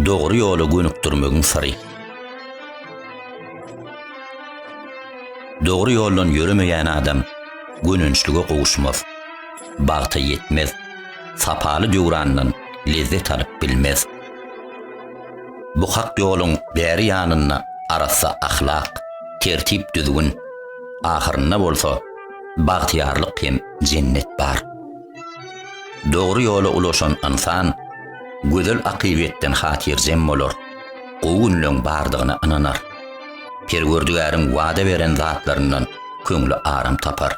dogry ýola gönükdirmegiň syry. Dogry ýoldan ýöremeýän adam gönençlige gowuşmaz, bagta ýetmez, sapaly döwrandan lezzet alyp bilmez. Bu hak ýoluň bäri ýanynda arassa ahlak, tertip-düzgün, ahyrynda bolsa bagtyýarlyk hem jennet bar. Dogry ýola ulaşan ynsan gözel akybetden hatyrjem bolar, gowy günleň bardygyna ynanar, Perwerdigäriň wada beren zatlaryndan köňli aram tapar,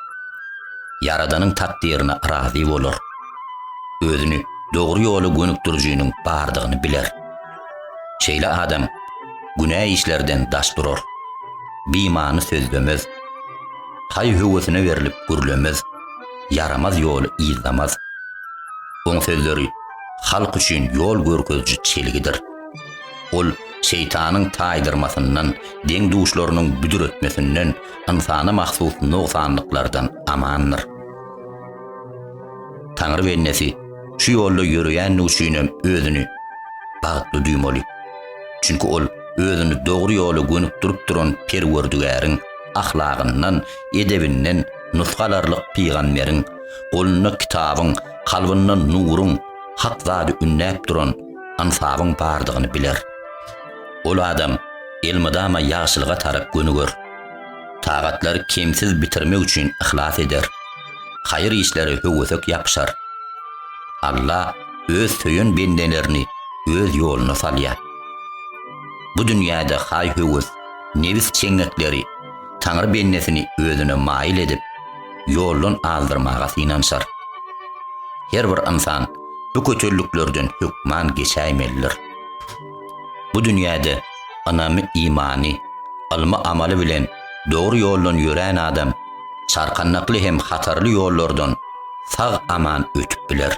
Ýaradanyň takdyryna razy bolar. özüni dogry ýola gönükdirijiniň bardygyny biler. Şeýle adam günä işlerden daş durar, bimany sözlemez, haý-höwesine berlip gürlemez, ýaramaz ýoly yzlamaz. Oň sözleri halk üçin ýol görkeziji çelgidir. Ol şeýtanyň taýdyrmasyndan, deň-duşlarynyň büdretmesinden, ynsana mahsus nogsanlyklardan amandyr. Taňry bendesi şu ýolda ýöreýänligi üçinem özüni bagtly duýmaly. Çünki ol özüni dogry ýola gönükdirip duran Perwerdigäriň ahlagyndan, edebinden nusga alarlyk pygamberiň, golunda kitabyň, kalbynda nuruň, hak zady ündäp duran Ynsabyň bardygyny biler. Ol adam elmydama ýagşylyga tarap gönüger. Tagatlary kemsiz bitirmek üçin yhlas eder. Haýyr işlere höwesek ýapyşar. Alla Öz söýen bendelerini Öz ýoluna salýar. Bu dünýäde haý-höwes, nebis çeňňekleri Taňry bendesini özüne maýyl edip, ýoldan azdyrmaga synanyşar. Her bir ynsan bu kötülliklerden hökman geçäýmelidir. Bu dünýäde ynamy, imany, ylmy-amaly bilen dogry ýoldan ýörän adam çarkandakly hem hatarly ýollardan sag-aman ötüp biler.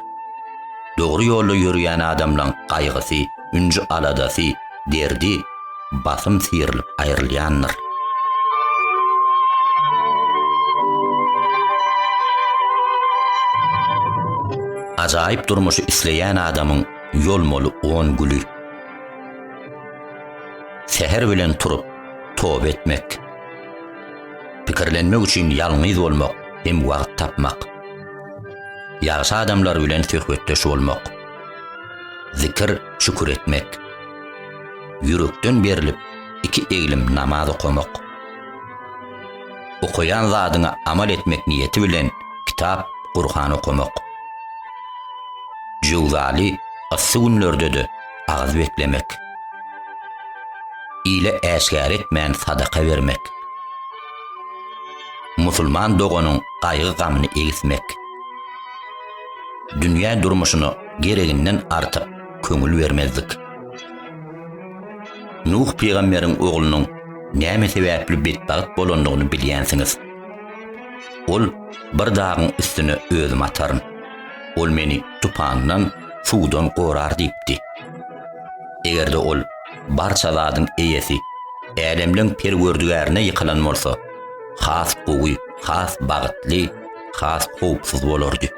Dogry ýolda ýörýän adamlaň gaýgysy, ünji-aladasy, derdi, basym syrylyp aýrylýandyr. Ajaýyp durmuşy isleýän adamyň ýolmaly on güli. Säher bilen turup, toba etmek. Pikirlenmek üçin ýalňyz bolmak hem wagt tapmak. Ýagşy adamlar bilen söhbetdeş bolmak. Zikir, şükür etmek. Ýürekden berlip, iki eglim namaz okamak. Okaýan zadyňa amal etmek niýeti bilen kitap, Gurhan okamak. Jöwzaly yssy günlerde-de agyz beklemek, ile äşgär etmän sadaka bermek, musulman doganyň gaýgy-gamyny egismek, dünýä durmuşyna gereginden artyk köňül bermezlik. Nuh pygamberiň oglunyň näme sebäpli betbagt bolandygyny bilýänsiňiz. Ol bir dagyň üstüne özümi ataryn. Ol meni tupandan suwdan gorar diýipdi. Eger-de ol barça zadyň eýesi, älemleň Perwerdigärine ýykylan bolsa, has gowy, has bagtly, has howpsuz bolardy.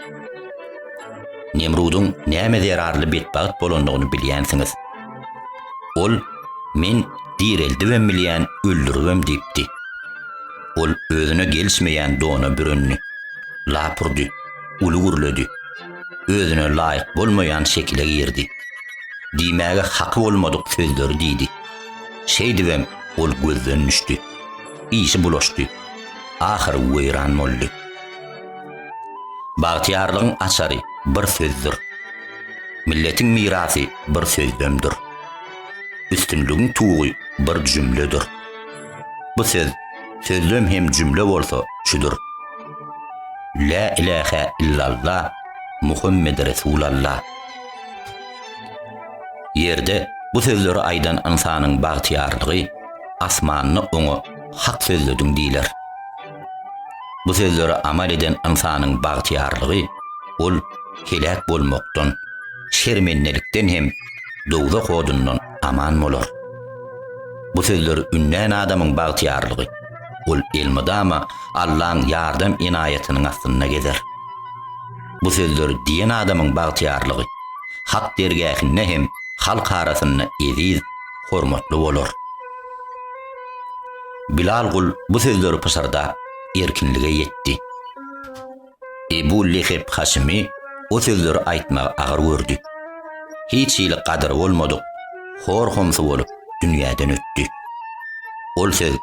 Nemrudyň nämä zerarly betbagt bolandygyny bilýänsiňiz. Ol, Men direldibem bilýän, öldüribem diýipdi. Ol özüne gelişmeýän dona bürendi. Lapurdy, uly gürledi, özüne laýyk bolmaýan şekile girdi. Diýmäge haky bolmadyk sözleri diýdi. Şeýdibem ol gözden düşdi. Işi bulaşdy. Ahyry weýran boldy. Bagtyýarlygyň açary bir sözdür. Milletiň mirasy bir sözlemdir. Üstünligiň tugy bir jümledir. Bu söz, sözlem hem jümle bolsa şudur. Lä ilähä illalla, Muhammed Resulalla. Ýerde bu sözleri aýdan ynsanyň bagtyýarlygy, asmanda oňa hak sözlediň diýler. Bu sözleri amal eden ynsanyň bagtyýarlygy, ol heläk bolmakdan, şermendelikden hem dowzah odundan aman bolar. Bu sözleri ündän adamyň bagtyýarlygy. Ol elmydama Allaň ýardam-enaýatynyň astynda gezer. Bu sözleri diýen adamyň bagtyýarlygy Hak dergähinde hem halk arasynda eziz, hormatly bolar. Bilal gul bu sözleri pyşyrdap, erkinlige ýetdi. Ebu Lehep Haşymy o sözleri aýtmagy agyr gördi. Hiç hili gadyry bolmadyk, hor-homsy bolup dünýäden ötdi. Ol söz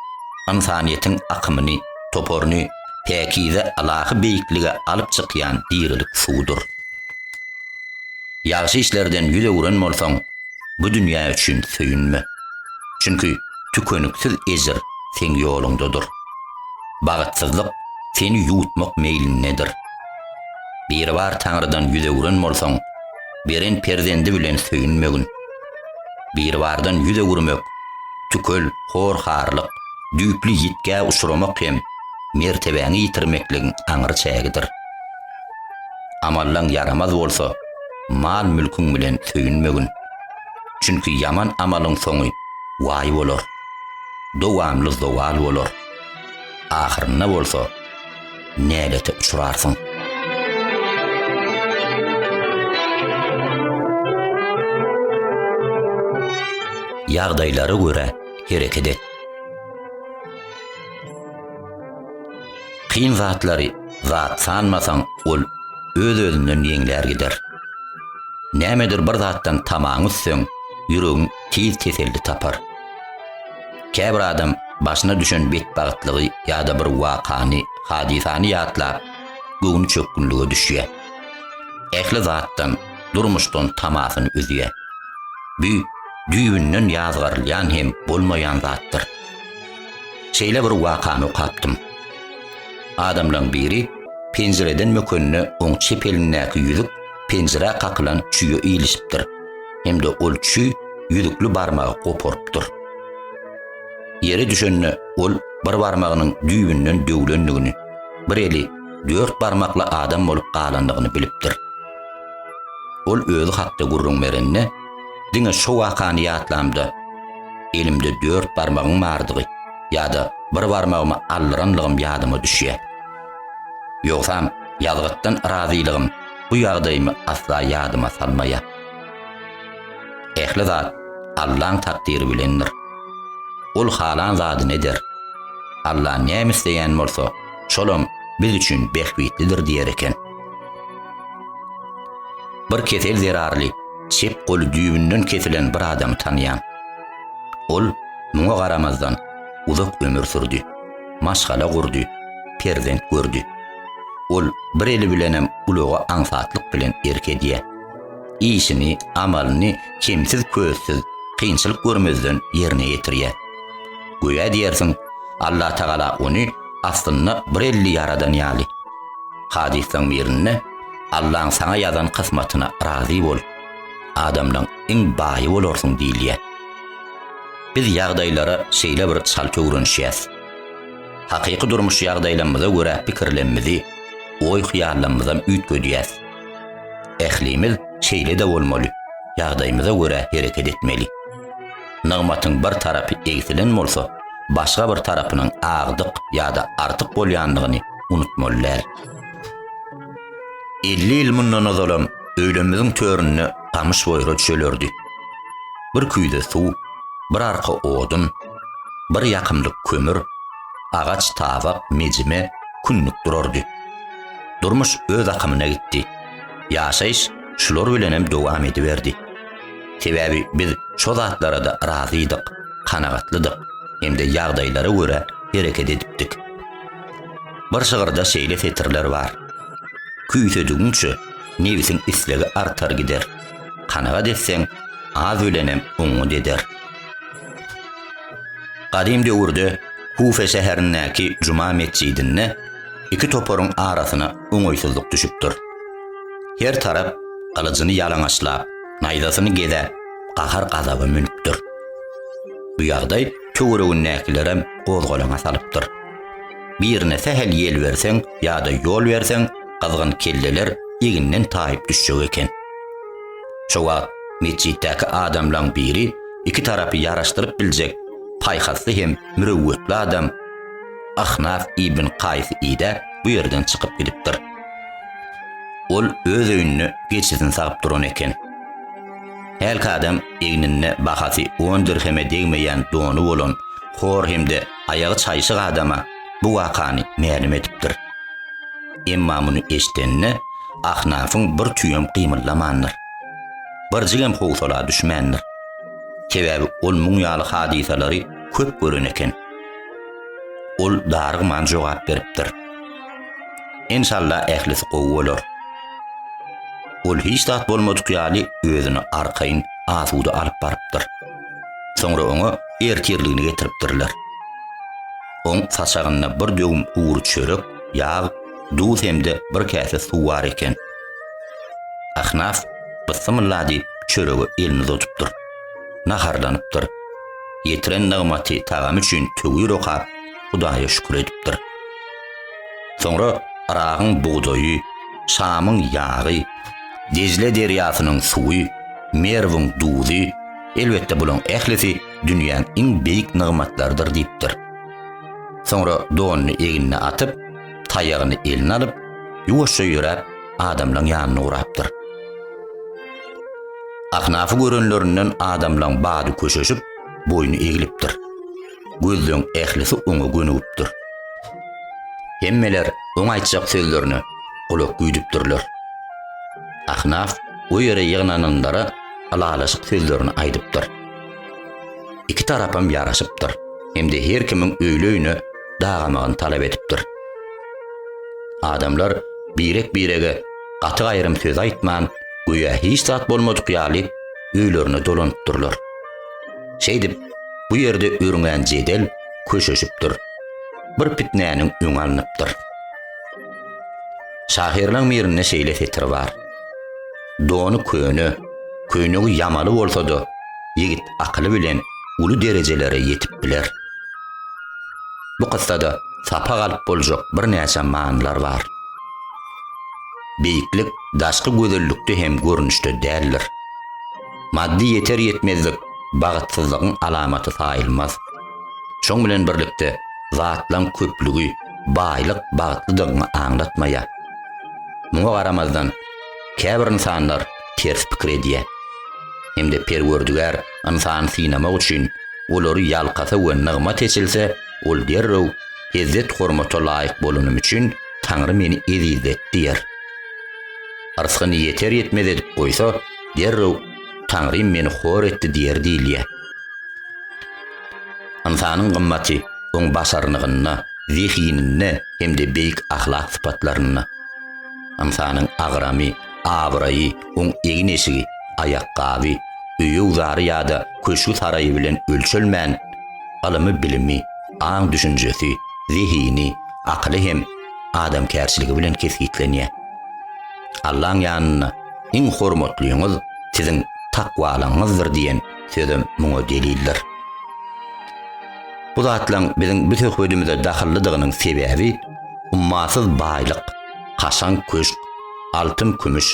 ynsanyýetiň akymyny, toparyny päkize ylahy beýiklige alyp çykýan dirilik suwdur. Ýagşy işlerden ýüz öwren bolsaň, bu dünýä üçin söýünme. Çünki tükeniksiz ejir seň ýoluňdadyr. bagtsyzlyk seni ýuwutmak meýlindedir. Biribar Taňrydan ýüz öwren bolsaň, beren perzendi bilen söýünmegin. Biribardan ýüz öwürmek, tükel, hor-harlyk, düýpli ýitgä uçramak hem mertebäňi ýitirmekligiň aňry çägidir. Amallaň ýaramaz bolsa, mal-mülküň bilen söýünmegin. Çünki ýaman amalyň soňy waý bolar. Dowamly zowal bolar. Ahyrynda bolsa näbete uçrarsyň. Ýagdaýlara görä hereket et. Kyn zatlary zat sanmasaň, ol öz-özünden ýeňlär gider. Nämedir bir zatdan tamaň üsseň, ýüregiň tiz teselli tapar. Käbir adam başyna düşen betbagtlygy ýa-da bir wakany, hadysany ýatlap, göwni çökgünlige düşýär. Ähli zatdan, durmuşdan tamasyny üzýär. Bu düýbünden ýazgarylýan hem bolmaýan zatdyr. Şeýle bir wakany okapdym. Adamlaryň biri penjireden mökenine oň çep elindäki ýüzük penjirä kakylan çüýe ilişipdir. hem-de ol çüý ýüzükli barmagy goparypdyr. Ýere düşende ol bir barmagynyň düýbünden döwlendigini, bir eli dört barmakly adam bolup galandygyny bilipdir. Ol özi hakda gürrüň berende, Diňe şo wakany ýatlamda, elimde dört barmagyň bardygy ýa-da bir barmagymy aldyranlygym ýadyma düşýär. Ýogsam, ýazgytdan razylygym bu ýagdaýymy asla ýadyma salmaýar. Ähli zat Allaň takdyry bilendir. Ol halan zadyny eder. Alla näme isleýän bolsa, şolam biz üçin bähbitlidir diýer eken. Bir kesel zerarly çep goly düýbünden kesilen bir adamy tanýan. Ol muňa garamazdan uzak ömür sürdi. Maşgala gurdy, perzent gördi. Ol bir eli bilenem ulaga aňsatlyk bilen erk edýär. işini, amalyny kemsiz-köstsüz, kynçylyk görmezden ýerine ýetirýär. Göýä diýersiň, Allatagala ony aslynda bir elli ýaradan ýaly. Hadyslaň birinde, Allaň saňa ýazan kysmatyna razy bol, adamlaň iň baýy bolarsyň diýilýär. Biz ýagdaýlara şeýle bir çalt öwrenişýäs. Hakyky durmuş ýagdaýlamyza görä pikirlemmizi, oý-hyýallamyzam üýtgedýäs. Ählimiz şeýle-de bolmaly, ýagdaýymyza görä hereket etmeli. Nygmatyň bir tarapy egsilen bolsa, başga bir tarapynyň agdyk ýa-da artyk bolýandygyny unutmaly däl. Elli ýyl mundan ozalam öýlerimiziň töründe gamyş boýra düşelerdi. Bir küýze suw, bir arka odun, bir ýakymlyk kömür, agaç tabak, mejime, kündük durardy. Durmuş öz akymyna gitdi. Ýaşaýyş şular bilenem dowam ediberdi. Sebäbi biz şo zatlara-da razydyk, kanagatlydyk hem-de ýagdaýlara görä hereket edipdik. Bir şygyrda şeýle setirler bar. Küýsedigiňçe, nebsiň islegi artar gider. Kanagat etseň, az bilenem oňňut eder. Gadym döwürde Kufe şäherindäki Juma metjidinde iki toparyň arasyna oňaýsyzlyk düşüpdir. Her tarap gylyjyny ýalaňaçlap, naýzasyny gezäp, gahar-gazaba münüpdir. Bu ýagdaý töweregindäkilerem gozgalaňa salypdyr. Birine sähel ýel berseň ýa-da ýol berseň, gyzgyn kelleler eginden taýyp düşjek eken. Şo wagt metjitdäki adamlaň biri iki tarapy ýaraşdyryp biljek paýhasly hem mürewwetli adam Ahnaf ibn Kaýsy idäp, bu ýerden çykyp gidipdir. Ol öz öýünde geçisini sagyp duran eken. Hälki adam egninde bahasy on dirheme degmeýän dony bolan hor hem-de aýagy çaýşyk adama bu wakany mälim edipdir. Emma muny eşdenine Ahnafyň bir tüýem gymyldamandyr. Birjigem howsala düşmändir. Sebäbi ol muň ýaly hadysalary köp gören eken. Ol darygman jogap beripdir. Enşalla ählisi gowy bolar. Ol hiç zat bolmadyk ýaly özüni arkaýyn asuda alyp barypdyr. Soňra oňa ertirligini getiripdirler. Oň saçagynda bir döwüm gury çörek, ýag, duz hem-de bir käse suw bar eken. Ahnaf Bysymylla diýip çörege elini uzatupdyr. Naharlanypdyr. Ýetiren nygmaty, tagamy üçin töwir okap, Hudaýa şükür edipdir. Soňra Yragyň bugdaýy, Şamyň ýagy, Dejle derýasynyň suwy, Merwiň duzy, elbetde bularyň ählisi dünýäň iň beýik nygmatlarydyr diýipdir. Soňra donuny egnine atyp, taýagyny eline alyp, ýuwaşja ýöräp, adamlaryň ýanyna ugrapdyr. Ahnafy görenlerinden adamlaryň bady köşeşip, boýny eglipdir. Gözleň ählisi oňa gönügipdir. Hemmeler oň aýtjak sözlerine gulak güýdüpdirler. Ahnaf o ýere ýygnananlara ylalaşyk sözlerini aýdypdyr. Iki tarapam ýaraşypdyr hem-de her kimiň öýli-öýüne dagamagyny talap edipdir. Adamlar birek-birege gaty gaýrym söz aýtman, göýä hiç zat bolmadyk ýaly öýlerine dolanypdyrlar. Şeýdip, bu ýerde örňän jedel köşeşipdir. Bir pitnäniň öňi alnypdyr. Şahyrynyň birinde şeýle setir bar. Dony köne, köýnegi ýamaly bolsa-da, ýigit akyly bilen uly derejelere ýetip biler. Bu kyssada sapak alyp boljak birnäçe manylar bar. Beýiklik daşky gözellikde hem görnüşde däldir. Maddy ýeter-ýetmezlik bagtsyzlygyň alamaty saýylmaz. Şoň bilen birlikde, zatlaryň köplügi, baýlyk bagtlydygyňy aňlatmaýar. Muňa garamazdan, käbir ynsanlar ters pikir edýär. Hem-de Perwerdigär ynsany synamak üçin, olary ýalkasa we nygmat eçilse, ol derrew, Hezzet-hormata laýyk bolanym üçin, Taňry meni ezizlet diýer. Yrsgyny ýeter-ýetmez edip goýsa, derrew Taňrym meni hor etdi diýer diýilýär. Ynsanyň gymmaty oň başarnygynda, zehininde hem-de beýik ahlak sypatlarynda. Ynsanyň agramy, abraýy, oň egin-eşigi, aýakgaby, öýügzary ýa-da köşgi-saraýy bilen ölçelmän, ylymy-bilimi, aň-düşünjesi, zehini, akyly hem adamkärçiligi bilen kesgitlenýär. Allaň ýanynda Iň hormatlyňyz siziň takwalygyňyzdyr diýen sözem muňa delildir. Bu zatlaryň biziň bu söhbedimize dahyllydygynyň sebäbi ummasyz baýlyk, kaşaň köşk, altyn-kümüş,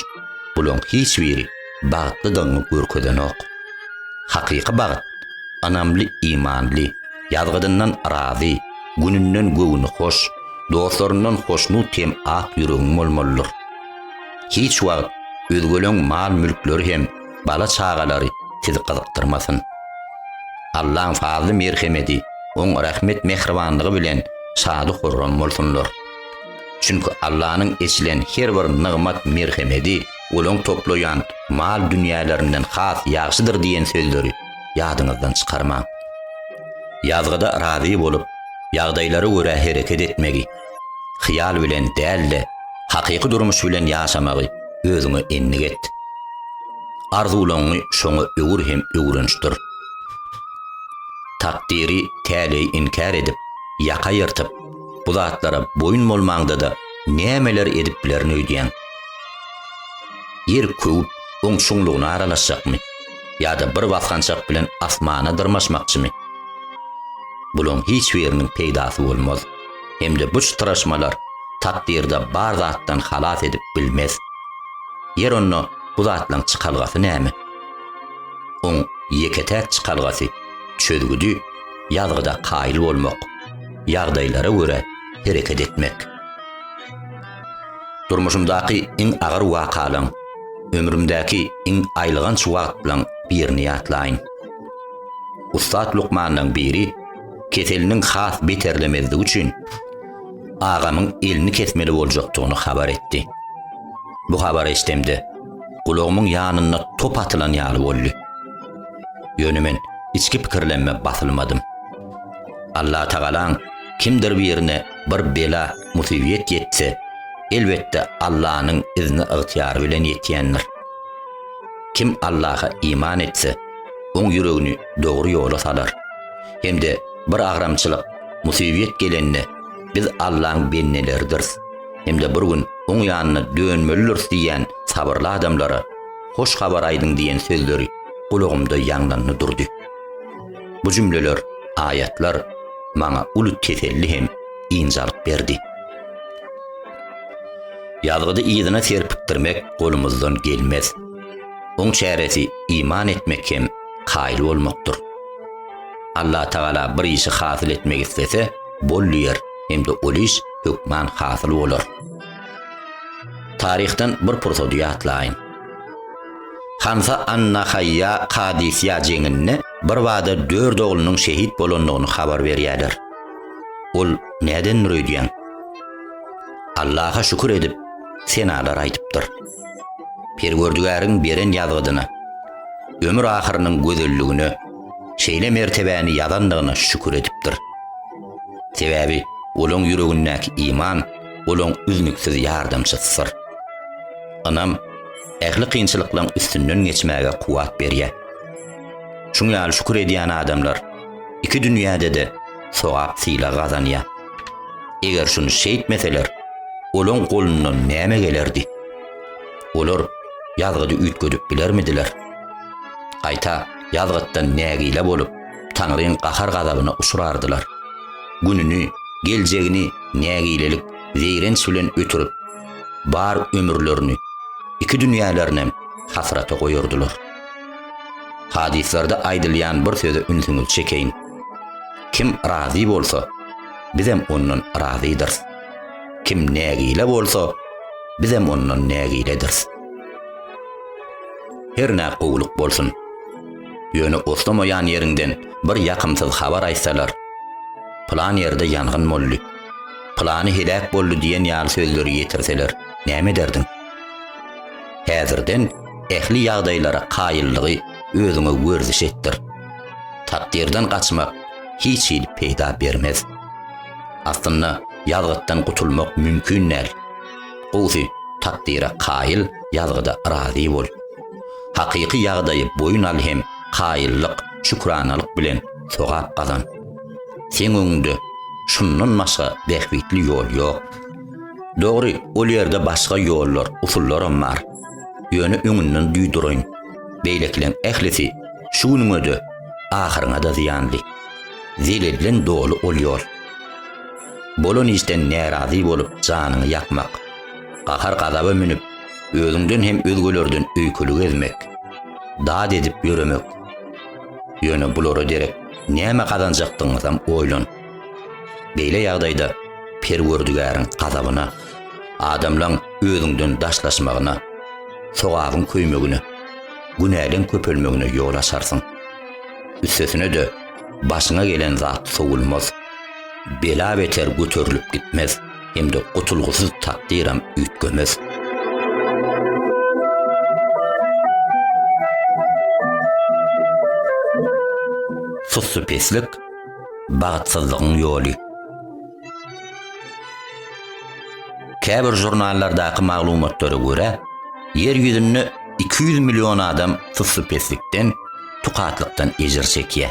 bularyň hiç biri bagtlydygyňy görkezenok. Hakyky bagt, ynamly, imanly, ýazgydyndan razy, gününden göwni hoş, dostlaryndan hoşnut hem ak ýüregiň bolmalydyr. Hiç wagt özgeleň mal-mülkleri hem bala-çagalary sizi gyzykdyrmasyn. Allaň fazly-merhemedi, Oň rehmet-mähribanlygy bilen şady-horram bolsunlar. Çünki Allanyň eçilen her bir nygmat-merhemedi olaň toplaýan mal-dünýälerinden has ýagşydyr diýen sözleri ýadyňyzdan çykarmaň. Ýazgyda razy bolup, ýagdaýlara görä hereket etmegi. Hyýal bilen däl-de, hakyky durmuş bilen ýaşamagy özüňe endik et. Arzuwlaryňy şoňa öwür hem öwrenişdir. Takdyry, täleýi inkär edip, ýaka ýyrtyp, bu zatlara boýun bolmaňda-da nämeler edip bilerin öýdýäň? Ýer köwüp, oň çuňlugyna aralaşjakmy? Ýa-da bir basgançak bilen asmana dyrmaşmakçymy? Bulaň hiç biriniň peýdasy bolmaz. hem-de bu çytraşmalar takdyrda bar zatdan halas edip bilmez. Ýer onda bu zatlaň çykalgasy näme? Oň ýeke-täk çykalgasy, çözgüdi ýazgyda kaýyl bolmak, ýagdaýlara görä hereket etmek. Durmuşymdaky iň agyr wakalaň, ömrümdäki iň aýylganç wagtlaň birini ýatlaýyn. Ussat lukmanlaň biri, keseliniň has beterlemezligi üçin agamyň elini kesmeli boljakdygyny habar etdi. Bu habary eşdemde, gulagymyň ýanynda top atylan ýaly boldy. Ýöne men içki pikirlenme basylmadym. Allatagalaň kimdir birine bir bela, musybyýet ýetse, elbetde Allanyň izni-ygtyýary bilen ýetýändir. Kim Allaha iman etse, oň ýüregini dogry ýola salar. hem-de bir agramçylyk, musybyýet gelende biz Allaň bendileridiris hem-de bir gün Oň ýanyna dönmelidiris diýýän sabyrly adamlara Hoş habar aýdyň diýen sözleri gulagymda ýaňlandy durdy. Bu jümleler, aýatlar maňa uly teselli hem ynjalyk berdi. Ýazgydy yzyna serpikdirmek golumyzdan gelmez. Oň çäresi iman etmek hem kaýyl bolmakdyr. Allah Tagala bir işi hasyl etmek islese, bol diýer hem-de ol iş hökman hasyl bolar. Taryhdan bir pursady ýatlaýyň. Hansa an-Nahaýýa Kadisiýa jeňinde birbada dört oglunyň şehit bolandygyny habar berýärler. Ol nädendir öýdýän? Allaha şükür edip, senalar aýdypdyr. Perwerdigäriň beren ýazgydyna, ömür ahyrynyň gözelligine, şeýle mertebäni ýazandygyna şükür edipdir. Sebäbi olaň ýüregindäki iman olaň üznüksiz ýardamçysydyr. Ynam ähli kynçylyklaň üstünden geçmäge kuwwat berýär. Şuň ýaly şükür edýän adamlar iki dünýäde-de sogap-sylag gazanýar. Eger şuny şeýtmeseler, olaň golundan näme gelerdi? Olar ýazgydy üýtgedip bilermidiler? Gaýta ýazgytdan nägile bolup, Taňryň gahar-gazabyna uçrardylar. Gününi, geljegini nägilelik, zeýrenç bilen ötürip, bar ömürlerini, iki dünýälerinem hasrata goýardylar. Hadyslarda aýdylýan bir söze ünsüňizi çekeýin. Kim razy bolsa, bizem ondan razydyrys. Kim nägile bolsa, bizem ondan nägilediris. Hernä gowulyk bolsun. Ýöne oslamaýan ýeriňden bir ýakymsyz habar aýtsalar, Pylan ýerde ýangyn boldy, pylany heläk boldy diýen ýaly sözleri ýetirseler, näme ederdiň? Häzirden ähli ýagdaýlara kaýyllygy özüňe werziş etdir. Takdyrdan gaçmak hiç hili peýda bermez. Aslynda ýazgytdan gutulmak mümkin däl. Gowsy takdyra kaýyl, ýazgyda razy bol. Hakyky ýagdaýy boýun al hem kaýyllyk, şükranalyk bilen sogap gazan. Seň öňüňde şundan başga bähbitli ýol ýok. Dogry, ol ýerde başga ýollar, usullaram bar. Ýöne öňünden duýduraýyn, beýlekileň ählisi şu günüňe-de, ahyryňa-da zyýanly. Zelelden doly ol ýol. Bolan işden närazy bolup janyňy ýakmak, gahar-gazaba münüp, özüňden hem özgelerden öýkeli gezmek, dad edip ýöremek. Ýöne bulara derek näme gazanjakdygyňyzam oýlan. Beýle ýagdaýda Perwerdigäriň gazabyna. Adamlaň özüňden daşlaşmagyna, sogabyň köýmegine, günäleň köpelmegine ýol açarsyň. Üstesine-de, başyňa gelen zat sowulmaz. Bela beter göterilip gitmez hem-de gutulgysyz takdyram üýtgemez. Sussupeslik, bagtsyzlygyň ýoly. Käbir žurnallardaky maglumatlara görä, Ýer ýüzünde iki ýüz million adam suslypeslikden, tukatlykdan ejir çekýär.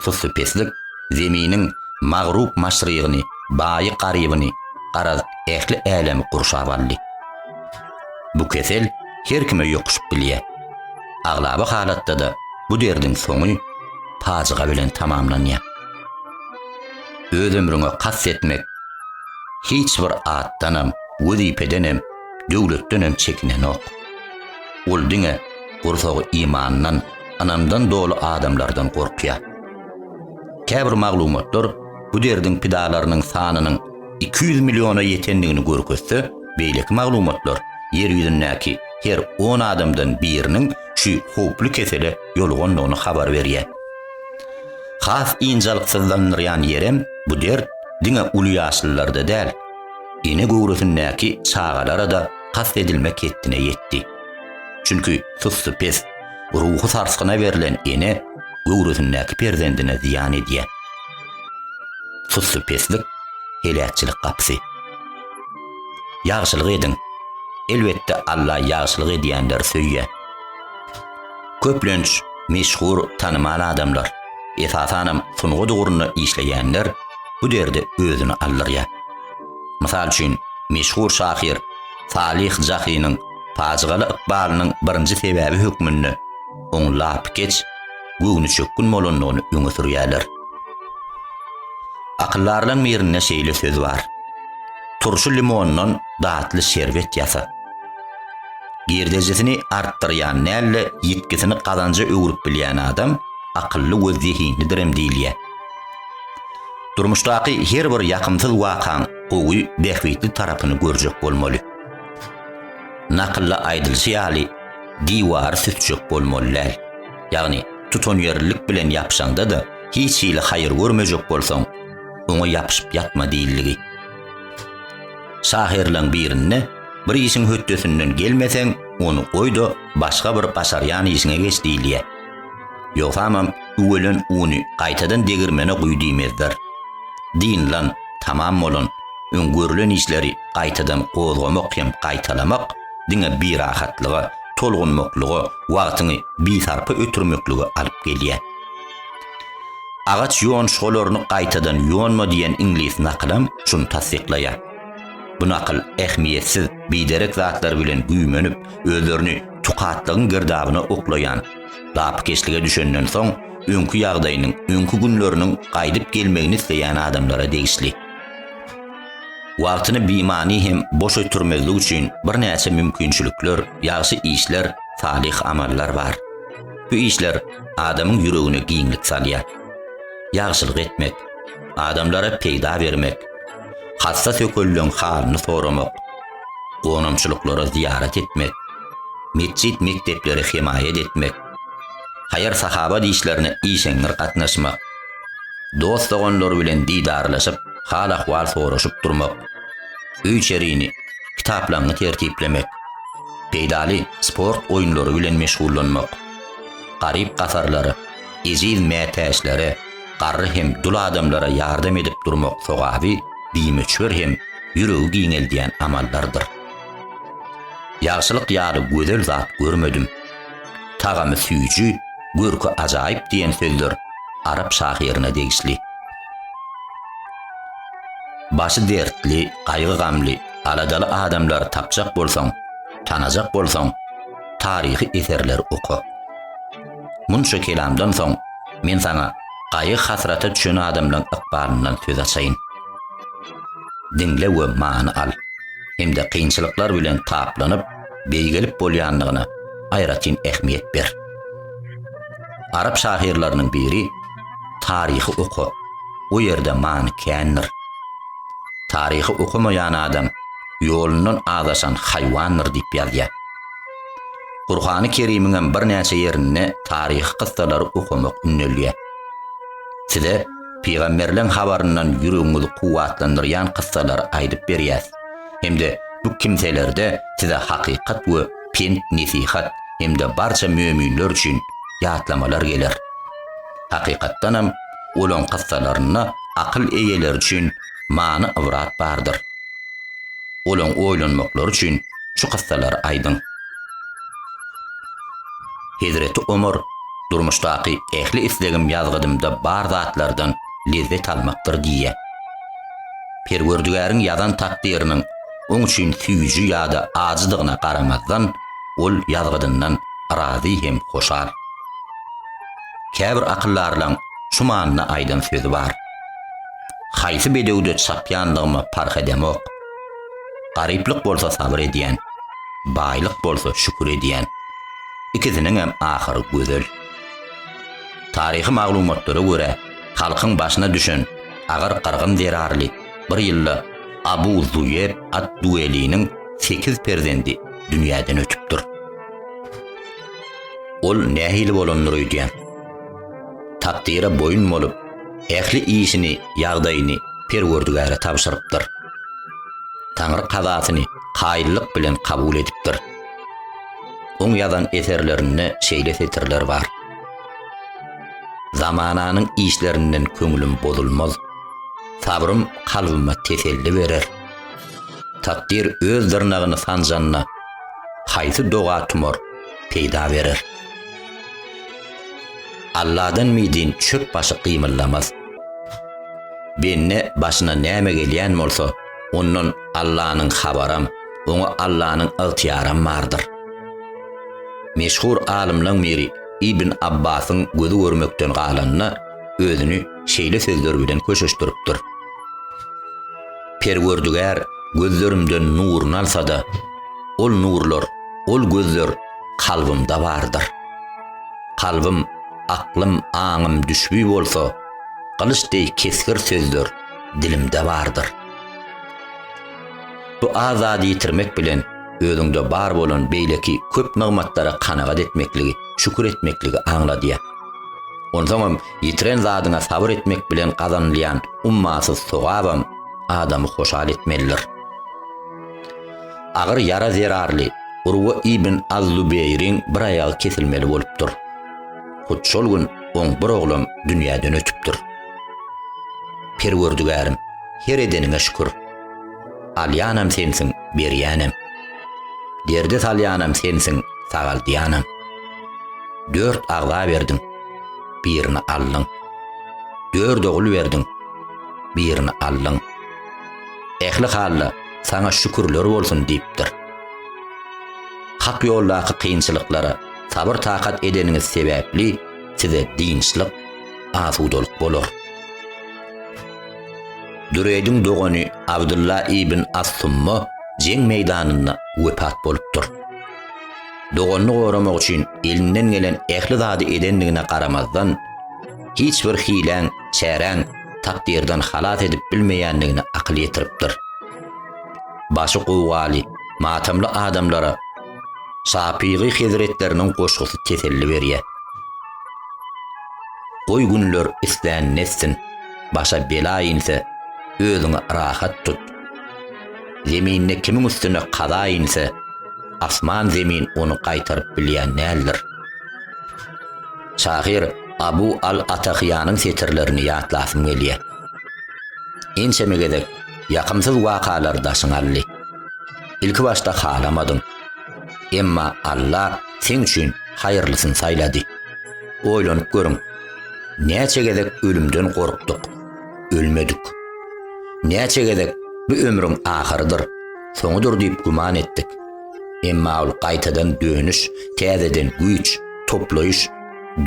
Suslypeslik Zeminiň magrup-maşrygyny, baýy-garybyny, garaz, ähli älemi gurşap aldy. Bu kesel her kime ýokuşyp bilýär. Aglaba halatda-da bu derdiň soňy pajyga bilen tamamlanýar. Öz ömrüňe kast etmek hiç bir atdanam, wezipedenem, döwletdenem çekinenok. Ol diňe gursagy imandan, ynamdan doly adamlardan gorkýar. Käbir maglumatlar bu derdiň pidalarynyň sanynyň iki ýüz milliona ýetendigini görkezse, beýleki maglumatlar Ýer ýüzündäki her on adamdan biriniň şu howply kesele ýolugandygyny habar berýär. Has ynjalyksyzlandyrýan ýerem bu dert diňe uly ýaşlylarda däl, ene göwresindäki çagalara-da kast edilmek hetdine ýetdi. Çünki sussy pes, ruhy sarsgyna berlen ene göwresindäki perzendine zyýan edýär. Sussy peslik, heläkçilik gapysy. Ýagşylyk ediň! Elbetde Alla ýagşylyk edýänleri söýýär. Köplenç, meşhur, tanymal adamlar, esasanam sungat ugrunda işleýänler bu derde özüni aldyrýar. Mysal üçin, meşhur şahyr Salyh Jahynyň pajygaly ykbalynyň birinji sebäbi hökmünde oň lapykeç, göwnüçökgün bolandygyny öňe sürýärler. Akyldarlaryň birinde şeýle söz bar, Turşy limondan datly şerbet ýasa. Girdejisini artdyrýan däl-de, ýitgisini gazanja öwrüp bilýän adam akylly we zehinlidirem diýilýär. Durmuşdaky her bir ýakymsyz wakaň gowy, bähbitli tarapyny görjek bolmaly. Nakylda aýdylşy ýaly, diwary sütjek bolmaly däl. Ýagny, tutanýerlilik bilen ýapyşaňda-da, hiç hili haýyr görmejek bolsaň, oňa ýapyşyp ýatma diýildigi. Şahyrlaň birinde bir işiň hötdesinden gelmeseň, ony goý-da, başga bir başarýan işiňe geç diýilýär. Ýogsamam üwelen uny gaýtadan degirmene guý diýmezler. Dynlan, tamam bolan, öň görlen işleri gaýtadan gozgamak hem gaýtalamak diňe birahatlyga, tolgunmaklyga, wagtyňy bisarpa ötürmeklige alyp gelýär. Agaç ýonuşgalaryny gaýtadan ýonma diýen iňlis nakylam şuny tassyklaýar. Bu nakyl ähmiýetsiz, biderek zatlar bilen güýmenip, özlerini tukatlygyň girdabyna oklaýan, lapykeçlige düşenden soň, öňki ýagdaýynyň, öňki günleriniň gaýdyp gelmegini isleýän adamlara degişli. Wagtyny bimany hem boş ötürmezlik üçin birnäçe mümkinçilikler, ýagşy işler, salyh amallar bar. Bu işler adamyň ýüregine giňlik salýar. Ýagşylyk etmek, adamlara peýda bermek, hassa sökelileň halyny soramak, gonamçylyklara zyýarat etmek, metjit-mekdeplere hemaýat etmek, haýyr-sahawat işlerine işeňňir gatnaşmak, dost-doganlar bilen didarlaşyp, hal-ahwal soraşyp durmak, öý-içerini, kitaplaňňy tertiplemek, Peýdaly sport oýunlary bilen meşgullanmak, garyp-gasarlara, ejiz mätäçlere, garry hem dul adamlara ýardam edip durmak sogaby bimöçber hem ýüregi giňeldýän amallardyr. Ýagşylyk ýaly gözel zat görmedim. Tagamy süýji, görki ajaýyp diýen sözler arap şahyryna degişli. Başy dertli, gaýgy-gamly, Aladaly adamlary tapjak bolsaň, tanajak bolsaň, taryhy eserleri oka. Munça kelamdan soň, men saňa gaýgy-hasrata düşen adamlaryň ykbalyndan söz açaýyn. Diňle we many al. Hem-de kynçylyklar bilen taplanyp, beýgelip bolýandygyna aýratyn ähmiýet ber. Arap şahyrlarynyň biri Taryhy oka, o ýerde many kändir. Taryhy okamaýan adam ýolundan azaşan haýwandyr diýip ýazýar. Gurhany Kerimiňem birnäçe ýerinde taryhy kyssalary okamak ündelýär. Size pygamberleň habaryndan ýüregiňizi kuwwatlandyrýan kyssalary aýdyp berýäs hem-de bu kimselerde size hakykat we pent-nesihat hem-de barça möminler üçin ýatlamalar geler. Hakykatdanam, olaň kyssalarynda akyl eýeleri üçin many-ybrat bardyr. Olaň oýlanmaklary üçin şu kyssalary aýdyň. Hezreti Omar, Durmuşdaky ähli islegim ýazgydymda bar zatlardan lezzet almakdyr diýýär. Perwerdigäriň ýazan takdyrynyň oň üçin süýji ýa-da ajydygyna garamazdan, ol ýazgydyndan razy hem hoşal. Käbir akyldarlaň şu manyda aýdan sözi bar, Haýsy bedewde çapýanlygyma parh edemok. Garyplyk bolsa sabyr edýän, baýlyk bolsa şükür edýän. Ikisiniňem ahyry gözel. Taryhy maglumatlara görä, halkyň başyna düşen agyr gyrgyn zerarly Bir ýylda Abu Zuýer ad-Dueliniň sekiz perzendi dünýäden ötüpdir. Ol nähili bolandyr öýdýäň? Takdyra boýun bolup, ähli işini, ýagdaýyny Perwerdigäre tabşyrypdyr. Taňry kazasyny kaýyllyk bilen kabul edipdir. Oň ýazan eserlerinde şeýle setirler bar, Zamananyň işlerinden köňlüm bozulmaz. Sabrym kalbyma teselli berer. Takdyr öz dyrnagyny sanjanda, haýsy doga tumar peýda berer? Alladan mydyn çöp başy gymyldamaz. Bende başyna näme gelýän bolsa, ondan Allanyň habaram, oňa Allanyň ygtyýaram bardyr. Meşhur alymlaň biri Ibn Abbasyň gözi görmekden galanda, özüni, şeýle sözler bilen köşeşdiripdir, Perwerdigär gözlerimden nuruny alsa-da, ol nurlar, ol gözler kalbymda bardyr. Kalbym, aklym, aňym düşbi bolsa, gylyç deý kesgir sözler dilimde bardyr. Bu az zady ýitirmek bilen, özüňde bar bolan beýleki köp nygmatlara kanagat etmekligi, şükür etmekligi aňladýar. Onsoňam Ýitiren zadyňa sabyr etmek bilen gazanylýan ummasyz sogabam adamy hoşal etmelidir. Agyr ýara zerarly Urwa ibn Az-Zubeýriň bir aýagy kesilmeli bolupdyr. Hut şol gün oň bir oglam dünýäden ötüpdir. Perwerdigärim, her edeniňe şükür. Alýanam sensiň, berýänem. Derde salýanam sensiň, sagaldýanam. Dört agza berdiň. birini aldyň. Dört ogul berdiň, birini aldyň. Ähli hal-da saňa şükürler bolsun diýipdir. Hak ýoldaky kynçylyklara sabyr-takat edeniňiz sebäpli size dynçlyk, asudalyk bolar. Düreýdiň dogany Abdylla ibn As-Summa jeň meýdanynda wepat bolupdyr. doganyny goramak üçin elinden gelen ähli zady edendigine garamazdan, hiç bir hiläň, çäräň takdyrdan halas edip bilmeýändigini akyl ýetiripdir. Başy gowgaly, matamly adamlara Şapygy hezretleriniň goşgusy teselli berýär. Goý günler islän netsin, başa bela inse, özüňi rahat tut. Zeminde kimiň üstüne kaza inse, asman-zemin ony gaýtaryp bilýän däldir. Şahyr Abu al-Atahyýanyň setirlerini ýatlasym gelýär. Ençeme gezek ýakymsyz wakalar daşyňy aldy. Ilki başda halamadyň. Emma Alla seň üçin haýyrlysyny saýlady. Oýlanyp görüň, näçe gezek ölümden gorkduk. ölmedik. Näçe gezek bu ömrüň ahyrydyr, soňudyr diýip güman etdik. Emma ol gaýtadan dönüş, täzeden güýç toplaýyş,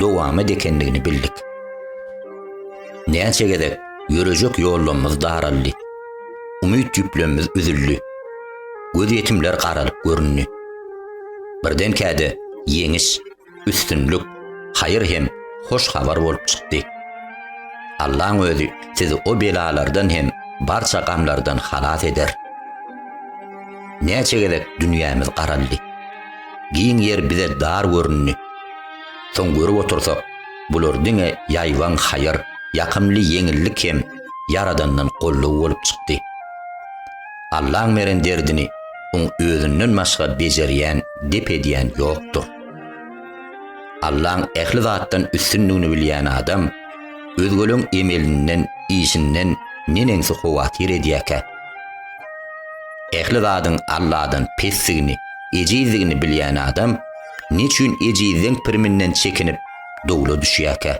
dowamat ekendigini bildik. Näçe gezek ýörejek ýollamyz daraldy. Umyt ýüplemmiz üzüldi. Gözýetimler garalyp göründi. Birdenkä-de ýeňiş, üstünlik, haýyr hem hoş habar bolup çykdy. Allaň özi sizi o belalardan hem barça gamlardan halas eder. Näçe gezek dünýämiz garaldy. Giň ýer bize dar göründi. Soň görüp otursak, bular diňe ýaýbaň haýyr, ýakymly ýeňillik hem Ýaradandan goldaw bolup çykdy. Allaň beren derdini oň özünden başga bejerýän, dep edýän ýokdur. Allaň ähli zatdan üstündigini bilýän adam özgeleň emelinden, işinden neneňsi howatyr edýärkä? Ähli zadyň Alladan pesdigini, ejizdigini bilýän adam neçüýn ejizleň piriminden çekinip, dowla düşýärkä?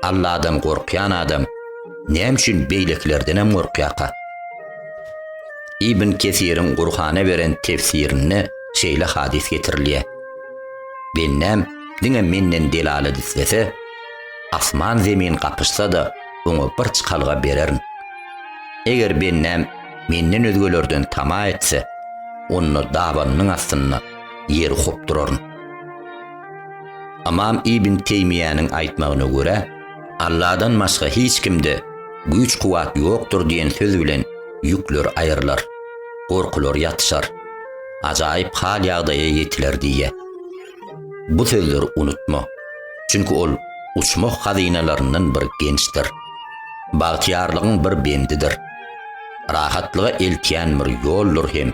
Alladan gorkýan adam näme üçin beýlekilerdenem gorkýarka? Ibn Kesiriň Gurhana beren tefsirinde şeýle hadys getirilýär. Bendäm diňe menden delalat islese, asman zemin gapyşsa-da, oňa bir çykalga bererin. Eger bendäm menden özgelerden tama etse, onda dabanynyň astynda ýeri hopduraryn. Ymam Ibn Teýmiýäniň aýtmagyna görä, Alladan başga hiç kimde güýç-kuwwat ýokdur diýen söz bilen ýükler aýrylar, gorkular ýatyşar, ajaýyp hal-ýagdaýa ýetiler diýýär. Bu sözleri unutma, çünki ol uçmah hazynalaryndan bir gençdir, bagtyýarlygyň bir bendidir, rahatlyga eltýän bir ýoldur hem.